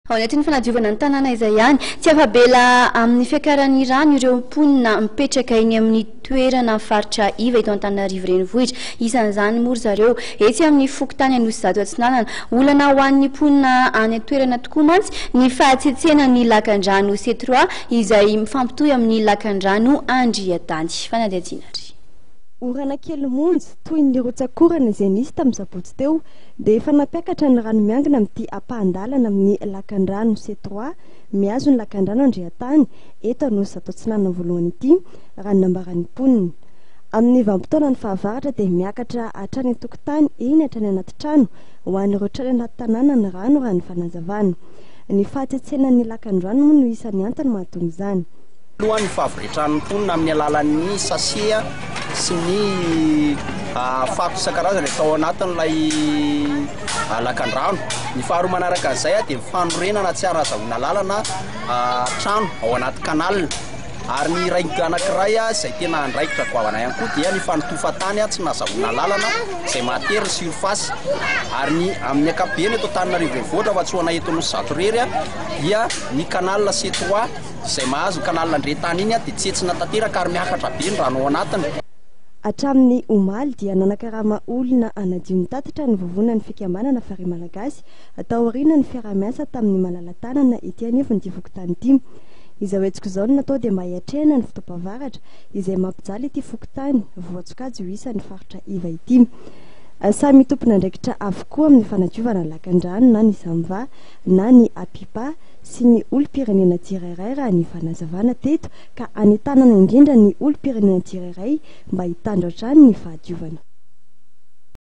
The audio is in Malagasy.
Ao anatin'ny fanadiovana ny tanàna izay ihany, tsy afa-bela amin'ny fiakaran'ny rano ireo mponina mipetraka eny amin'ny toerana faritra iva eto Antananarivo Renivohitra. Isan'izany moa ry zareo etsy amin'ny fokontany Anosizato Atsinanana. Olana ho an'ny mponina any an-toerana tokoa mantsy ny fahatsiatsehanan'ny lakandrano Setroà izay mifampitohy amin'ny lakandrano Andriatany. Fanadihadiana ry. Orana kely monja toy ny rotsakorana izay nisy tamin'ny sabotsy teo. dia efa nampiakatra ny rano miangona amin'ity ampahan-dalana amin'ny lakandrano C trois mihazo ny lakandrano Andriantany eto Anosizato Atsinanana Voalohany ity, raha ny nambaran'ny mponina. Amin'ny vanim-potoana ny fahavaratra dia miakatra hatrany an-tokotany eny hatrany anaty trano ho an'ireo trano anaty tanàna ny rano raha ny fanazavana. Ny fahatsentsenan'ny lakandrano moa no isan'ny antony mahatonga izany. Alohan' ny fahavitran' ny mponina amin' ny alalan' ny sase sy ny fako isan-karazany atao ao anatin' ilay lakandrano. Ny faharoa manaraka izay dia ny fanorenana tsy azo hazahoana lalana trano ao anaty kanala. Ary ny iray anankiray izay tena andraikitra goavana ihany koa dia ny fanotofan-tany tsy nazahoana lalana izay mahatery ny sirfasy. Ary ny amin' ny ankapobeny eto Antananarivo Renivohitra fa tsy ho anay eto Anosizato irery dia ny kanala C3. Izay mahazo ny kanaly Nandrentany iny dia tsentsina tanteraka ary miakatra be ny rano ao anatiny. Hatramin'ny omaly dia nanakarama olona hanadio ny tatitra ny vovonan'ny fikambanana Farihy Malagasy taorian'ny fiaraha-miasa tamin'ny malala-tanana ety anivon'ity fokontany ity. Izao hetsika izao no natao dia mba hiatrehana ny fotoam-pahavaratra izay mampijaly ity fokontany voasokajy ho isan'ny faritra iva ity. Samy tompon'andraikitra avokoa amin'ny fanadiovana ny lakandrano na ny Samva na ny Apipa sy ny olom-pirenena tsirairay raha ny fanazavana teto ka anentanana indrindra ny olom-pirenena tsirairay mba hitandro hatrany ny fahadiovana.